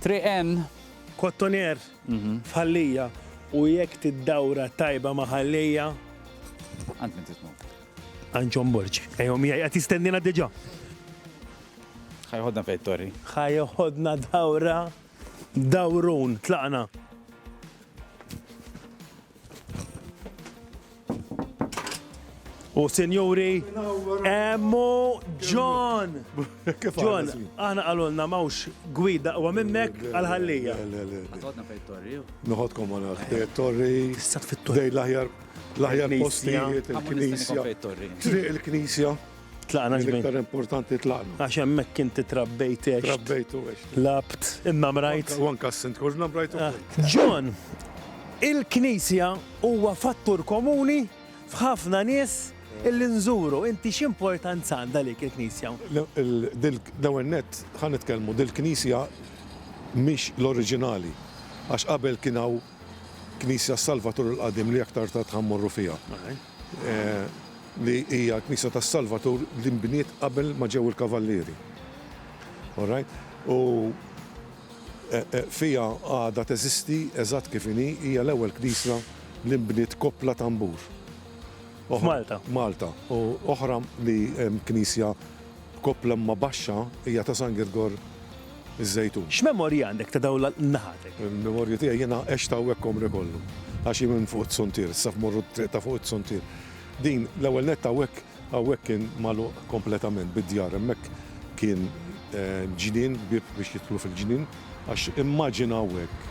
Triq N. Cottonier f'Ħal Lija u jekk tiddawra tajba ma' Ħal Lija. Għand min titmu? Għand John Borgi. Ejjew miegħi qed jistennina diġà. Ħajħodna fejn torri. Ħajħodna dawra dawrun tlaqna. U sinjuri, emmu John! John, aħna għalulna mawx gwida u minnek għal-ħallija. Għadna fej torri. Noħodkom għana fej torri. Sat fit torri. Dej laħjar, laħjar postijiet, il-knisja. Triq il-knisja. Tlaqna ġbin. Iktar importanti tlaqna. Għax hemmhekk inti trabbejt ex. Trabbejt u ex. Labt, imma mrajt. U anka s-sint kollna mrajt ukoll. Ah, John, il-Knisja huwa fattur komuni f'ħafna nies illi nżuru. Inti x'importanza għandha lik il-Knisja? L-ewwel nett ħan nitkellmu dil-Knisja mhix l-oriġinali għax qabel kien hawn Knisja Salvatur il-qadim li aktar ta' tħammorru fiha. li hija l-Knisja tas-Salvatur li nbniet qabel ma ġew il-Kavallieri. All right? U fiha għadha teżisti eżatt kif inhi, hija l-ewwel knisja li nbniet koppla tanbur. F'Malta. Malta. U oħra li hemm knisja Koppla imma baxxa hija ta' San Girgor iż-Żejtun. X'memorji għandek ta' dawn l-naħatek? Il-memorji tiegħi jiena għext hawnhekk għomri kollu. Għax hi minn fuq it-Suntier, issa f'morru t-triq ta' fuq it-Suntier. Din, l-ewwel nett hawnhekk, hawnhekk kien magħluq kompletament bid-djar. Hemmhekk kien ġnien, bieb biex jidħlu fil-ġnien. Għax immaġinaw hekk,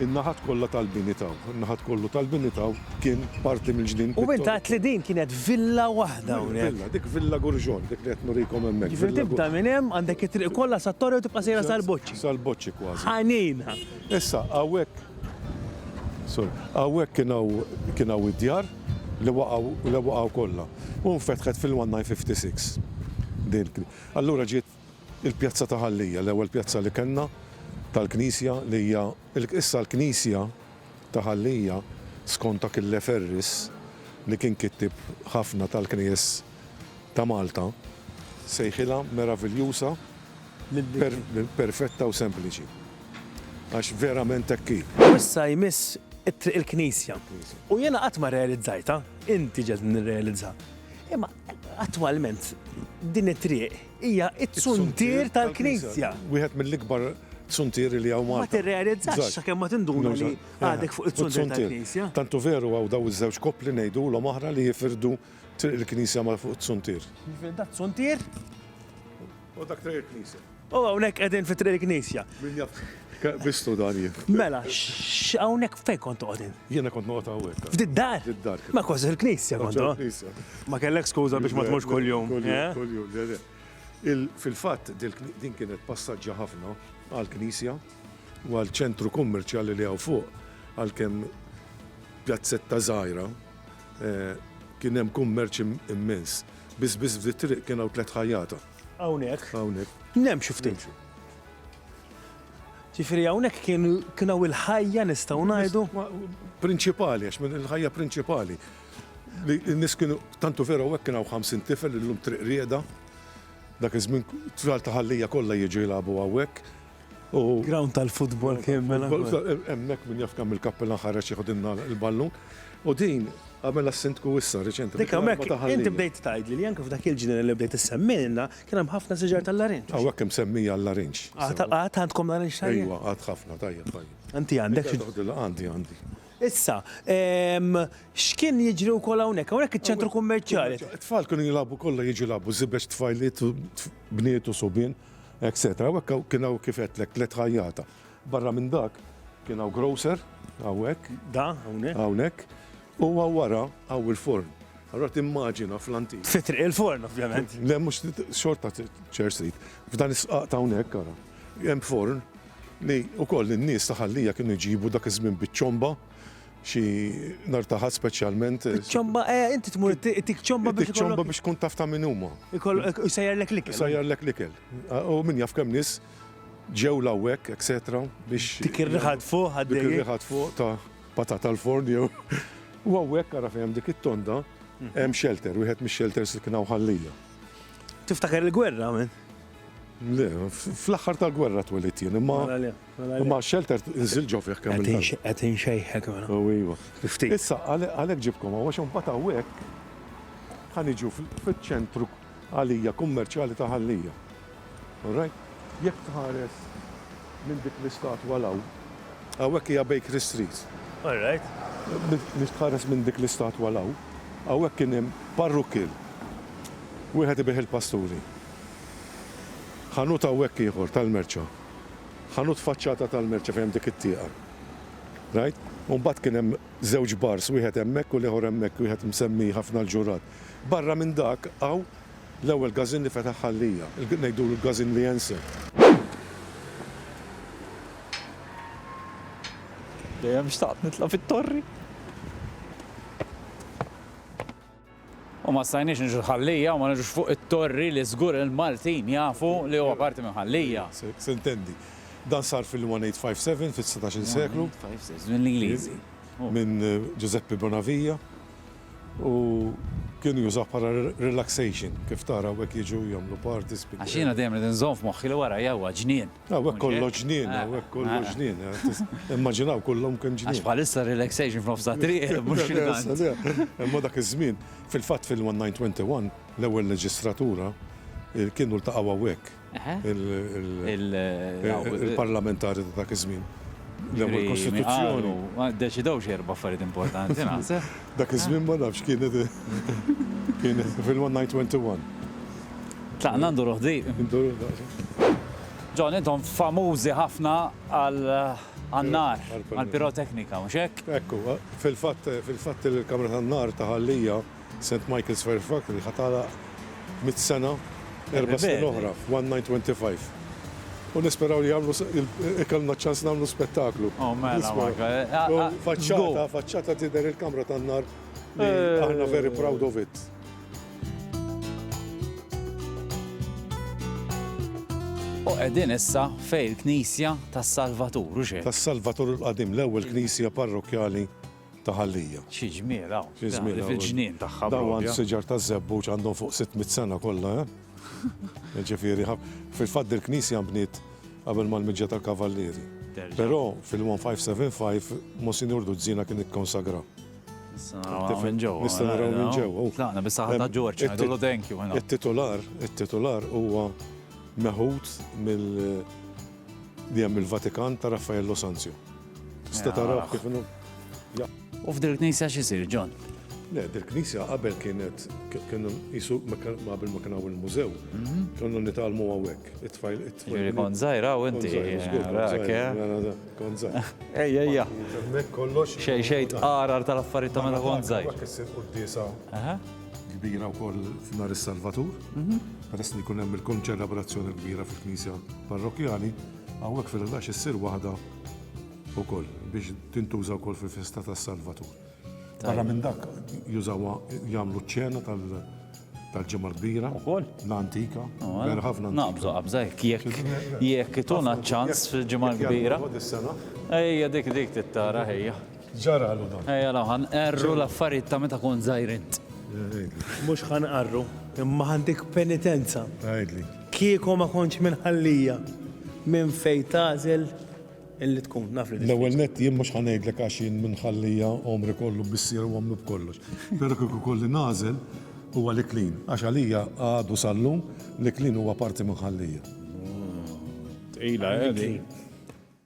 in-naħat kollha tal-bini ta' hawn, in-naħat kollu tal-bini ta' hawn kien parti mill-ġnien pittoriku. U int għedt li din kienet villa waħda hawnhekk. Villa, dik Villa Gurjon, dik li qed nurikom hemmhekk. Jiġifieri tibda minn hemm, għandek it-triq kollha sat-Torri u tibqa' sejra sal-Boċċi. Sal-Boċċi kważi. Ħanina! Issa, hawnhekk, sorry, hawnhekk kien hawn, kien hawn id-djar li waqgħu, li waqgħu kollha. U nfetħet fil-1956 din il-knisja. Allura ġiet. Il-Pjazza ta' Ħal Lija, l-ewwel pjazza li kellna tal-knisja li hija issa l-knisja ta' Ħal Lija skont Achille Ferris li kien kittieb ħafna tal-knejjes ta' Malta sejħilha meraviljusa, perfetta u sempliċi. Għax verament hekk hi. U issa jmiss it-triq il-knisja. U jiena qatt ma rrealizzajtha, inti ġegħeltni nirrealizha. Imma Attwalment, din it-triq hija t-tsuntier tal-Knisja. Wieħed mill-ikbar tsuntieri li hawn Malta. Ma tirrealizzax sakemm ma tinduna li għadek fuq it-tsuntier tal-Knisja. Tant hu veru hawn dawn iż-żewġ koppli ngħidulhom aħna li jifirdu triq il-Knisja ma' fuq it-tsuntier. Jiġifieri dat-tsuntier? U dak triq il-knisja. U hawnhekk qegħdin fi triq il-knisja. Min jaf bistu dan jien. Mela, hawnhekk fejn kont toqgħodin? Jiena kont noqgħod hawnhekk. F'did dar? F'did dar. Ma kważi il-knisja kont. Il-knisja. Ma kellek skuża biex ma tmux kuljum. Kuljum, le le. Fil-fatt din kienet passaġġa ħafna għall-knisja u għal ċentru kummerċjali li hawn fuq għalkemm pjazzetta żgħira kien hemm kummerċ immens. Biss biss f'di t-triq kien hawn tliet ħajjata. Hawnhekk. Hawnhekk. Nimxu ftit. Ġifieri hawnhekk kien kien hawn il-ħajja nistgħu ngħidu? Prinċipali, għax minn il-ħajja prinċipali. Li n-nies kienu tantu vera hawnhekk kien hawn 50 tifel illum triq rieda. Dak iż-żmien tfal ta' Ħal Lija kollha jiġu jilagħbu hawnhekk. Ground tal-futbol kien mela. Hemmhekk min jaf kemm il-kappellan ħareġ jieħodilna l-ballun. U din għamela s-sindku issa riċenti. Dik hemmhekk inti bdejt tgħidli li anke f'dak il-ġnien li bdejt issemmielna kien hemm ħafna siġar tal-larinġ. Hawnhekk hemm semmija l-larinġ. Għad għandkom larinġ tajjeb? Ejwa, għad ħafna tajjeb tajjeb. Inti għandek? Għandi, għandi. Issa, x'kien jiġri wkoll hawnhekk? Hawnhekk iċ-ċentru kummerċjali. It-tfal kienu jilagħbu kollha jiġu jilagħbu żibeġ tfajliet, bniet u subien. etc. U hekk hawn kien hawn kif għedtlek tliet ħajjata. Barra minn dak kien hawn grocer hawnhekk. Da, hawnhekk. Hawnhekk. U hawn wara hawn il-forn. Allora timmaġina fl-antik. Fi triq il-forn ovvjament. Le mhux xorta ċer Street. F'dan is-sqaq ta' hawnhekk ara. Hemm forn li wkoll in-nies ta' Ħal Lija kienu jġibu dak iż-żmien biċ-ċomba xi nar ta' ħadd speċjalment. eh, Ċomba, eh, inti tmur tik ċomba biex Dik ċomba ikollok. biex tkun taf ta' min huma. ikollok- Isejjarlek l-ikel. Sajjarlek l-ikel. Ah, U min jaf kemm nies ġew l-għawek, etc. biex. Dik ir-riħa fuq Dik għaddej. ir-riħa fuq ta' patata l-forn jew. U għawek ara fejn hemm dik it-tonda, Mhm. hemm shelter, wieħed mix-shelters li kien hawn ħallija. Tiftakar il-gwerra, men. Le, f- fl-aħħar tal-gwerra twelid jien, imma Mela le. U ma' shelter inżil ġo fih kemm il-darba. Qed inxejħek mela. O iva. Ftit. Issa, għalhekk ġibtkom hawn għax imbagħad hawnhekk ħa niġu fiċ-ċentru għalija kummerċjali ta' Ħal Lija. All right? Jekk tħares minn dik l-istatwa 'l hawn, hawnhekk hija Bakery Street. All right. Jekk tħares minn dik l-istatwa 'l hawn, hawnhekk kien hemm parrukkil. Wieħed ibigħ il-pasturi. Ħanut hawnhekk ieħor tal-merċa. ħanut faċċata tal-merċa fejn hemm dik it-tieqa. Rajt? U mbagħad kien hemm żewġ bars, wieħed hemmhekk u l-ieħor hemmhekk, wieħed msemmi ħafna l-ġurrat. Barra minn dak hawn l-ewwel gażin li fetaħ Ħal-Lija, ngħidulu l-gażin Lienser. Dejjem xtaqt nitla' fit-torri. U ma stajniex niġu l-Ħallija u ma niġux fuq it-Torri li żgur il-Maltin jafu li huwa parti minn Ħallija. Se ntendi. Dan sar fil-1857, fis-setax-il seklu. 1857, mill-Ingliżi. Minn Ġużeppi Bonavija u kienu jużawh bħala relaxation, kif tara hawnhekk jiġu jagħmlu parties. Għax jiena dejjem irid inżomm f'moħħi li warajja huwa ġnien. Hawnhekk kollox ġnien, hawnhekk kollox ġnien. Immaġinaw kullhom kemm ġnien. Għax bħalissa relaxation f'nofs it-triq, mhux x'tant. Imma dak iż-żmien, fil-fatt fil-1921, l-ewwel leġistratura kienu ltaqgħu hawnhekk. Il-parlamentari ta' dak iż-żmien. L-ewwel kostituzzjoni. Ddeċidew xi erba' affarijiet importanti naħseb. Dak iż-żmien ma nafx kienet kienet fil-one night went to one. Tlaqna nduru ħdieq. Nduru daqsxejn. John, intom famużi ħafna għan-nar, għall-piroteknika, mhux hekk? Hekk hu. Fil-fatt, fil-fatt il-Kamra tan-Nar ta' Ħal-Lija, St. Michael's Fairfax, li ħa tagħlaq, mitt sena, erba' snin oħra, one night twenty five. U nisperaw li jagħmlu ikollna ċ-ċans nagħmlu spettaklu. Faċċata, faċċata tidher il-kamra tan-nar li aħna very proud of it. U qegħdin issa fejn il-Knisja tas-Salvatur, u x'hi? Tas-Salvatur il-qadim, l-ewwel knisja parrokkjali. ta' ħallija. Xi ġmiel hawn. Xi ġmiel hawn. Fil-ġnien tagħha. Dawn għand siġar taż-żebbuġ għandhom fuq 600 sena kollha, eh? Ġifieri, fil-fatt dil-knisja nbniet qabel mal-miġja tal-Kavallieri. Però fil-1575 Monsinjur Duzzina kien ikkonsagra. Nista' naraw minn ġewwa. Nista' naraw minn ġewwa. Tlaqna biss ħadna Ġorġ, ngħidulu thank you. It-titular, it-titular huwa meħud mill-Vatikan ta' Raffaello Sanzio. Tista' taraw kif inhu. U f'dil knisja x'isir, John? Le, dil knisja qabel kienet kienu jisu qabel ma kien hawn il-mużew. Mhm. Konna nitgħallmu hawnhekk. It-tfajl it-tfajl. Kont żgħir hawn inti. Kont żgħir. Ejja, ejja. Hemmhekk kollox. Xejn xejn tqarar tal-affarijiet ta' meta kont żgħir. Hekk issir quddiesa kbira wkoll f'Nar is-Salvatur. Mhm. Peress li jkun hemm il-konċelabrazzjoni kbira fil-knisja parrokkjali, hawnhekk fil-ħdax issir waħda Ukoll, biex tintuża wkoll fil-festa tas-Salvatur. Barra minn dak, jużawha jagħmlu ċ-ċena tal-Ġimgħa l-Kbira. Ukoll? L-antika. Vera ħafna. Naqbżu qabża jekk jekk tuna ċans fil-Ġimgħa l-Kbira. Ejja dik dik tittara ħejja. Ġara għalu dan. Ejja laħan, erru l-affarijiet ta' meta kont żgħir int. Mhux ħanqarru, imma għandik penitenza. Għidli. Kieku ma kontx minħallija minn fejn tagħżel li tkun, naf li. L-ewwel nett jien mhux ħa ngħidlek għax jien minħallija għomri kollu bissier u għomlu b'kollox. Però kieku jkolli nagħżel huwa l-iklin għax għalija għadu sal-lum l-iklin huwa parti minħallija. Tqila, eh, din.